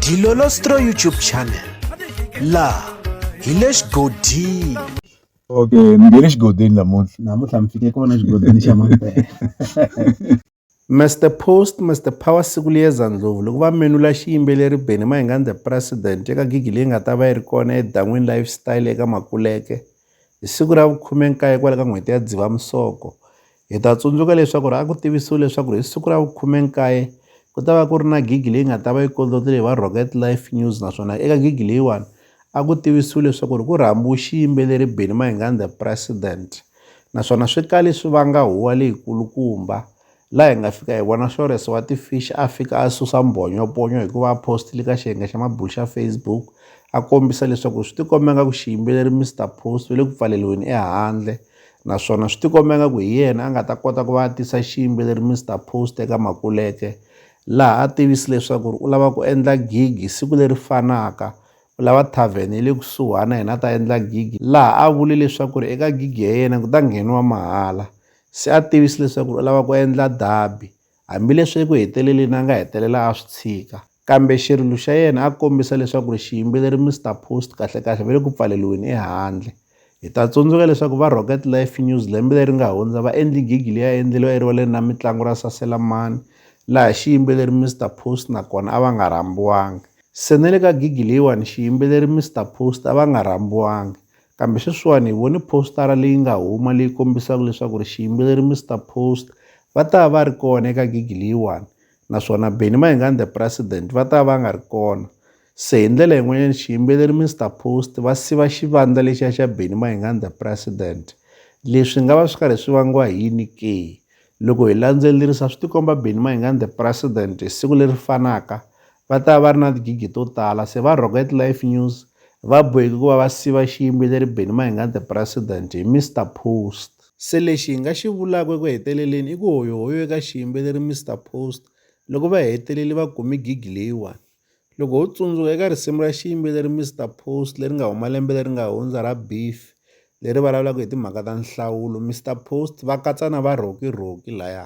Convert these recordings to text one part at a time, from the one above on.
Dilolostro YouTube channel laha hi le xigodini okay ni nge le xigodini namuntlha namuntlha mi fike kona xigodini xa mampela Mr Post Mr Power siku liyeza ndlovu loko va menula xiyimbeleri Benny Mahingani the president eka gigi leyi nga ta va yi ri kona edan'wini lifestyle eka Makuleke hi siku ra vukhume-nkaye kwale ka n'hweti ya Dzivamisoko Hi ta tsundzuka leswaku a ku tivisiwe leswaku hi siku ra vu-19 ku ta va ku ri na gigi leyi nga ta va yi kondlotile hi va Rocket Life News naswona eka gigi leyiwani a ku tivisiwe leswaku ri ku rhambiwe xiyimbeleri Benny Mayengani the President naswona swi kale swi vanga huwa leyikulukumba laha hi nga fika hi vona Shores wa ti-Fish a fika a susa mbhonyoponyo hikuva a post-ile ka xiyenge xa mabulo xa Facebook a kombisa leswaku swi tikomba nga ku xiyimbeleri Mister Post u le ku pfaleliweni ehandle. naswona swi tikomba nga ku hi yena a nga ta kota ku va a tisa xiyimbeleri Mr Post eka Makuleke laha a tivisi leswaku ri u lava ku endla gigi siku leri fanaka u lava tavern ya le kusuhana yena a ta endla gigi laha a vule leswaku ri eka gigi ya yena ku ta ngheniwa mahala se a tivisi leswaku u lava ku endla dabi Hambileswi eku heteleleni a nga hetelela a swi tshika, kambe xirilo xa yena a kombisa leswaku ri xiyimbeleri Mister Post kahle-kahle va le ku pfaleriweni ehandle. Hi ta tsundzuka leswaku va Rocket Life News lembe leri nga hundza va endli gigi leyi a endleriwa erivaleni ra mitlangu ra Saselamani laha xiyimbeleri Mister Post na kona a va nga rhambiwangi. Se na le ka gigi leyiwani xiyimbeleri Mister Post a va nga rhambiwangi. Kambe sweswiwani hi vone phositara leyi nga huma leyi kombisaka leswaku ri xiyimbeleri Mister Post va ta va ri kona eka gigi leyiwani naswona Benny Mayengani the President va ta va nga ri kona. Se hi ndlela yin'wanyana xiyimbeleri Mister Post va siva xivandla lexiya xa Benny Mayengani the President. Leswi nga va swi karhi swi vangiwa hi yini ke? Loko hi landzelerisa swi tikomba Benny Mayengani the President hi siku leri fanaka Va ta va va ri na tigigi to tala se va Rocket Life News va boheke ku va va siva xiyimbeleri Benny Mahingani The President hi Mister Post. Se lexi hi nga xi vulaka eku heteleleni i ku hoyohoyo eka xiyimbeleri Mister Post loko va hetelele va kume gigi leyiwani. Loko ho tsundzuka eka risimu ra xiyimbeleri Mister Post leri nga huma lembe leri nga hundza ra Beef leri vulavulaka hi timhaka ta nhlawulo Mister Post va katsa na va Rocky Rocky laya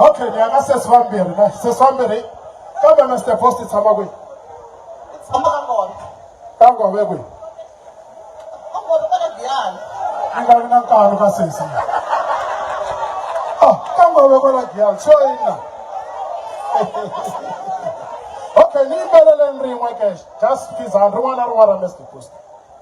okay ni aka sesi vambirhi ka sesi vambirhi kambe na step host tshama kwihi tshama ka ngoma ka ngoma ya kwihi ka ngoma ka giyani a nga vi na nkarhi ka sesi ah ka ngoma ka la giyani so ina okay ni yimbeleleni rin'we ke just phizani rin'wana na rin'wana ra mr post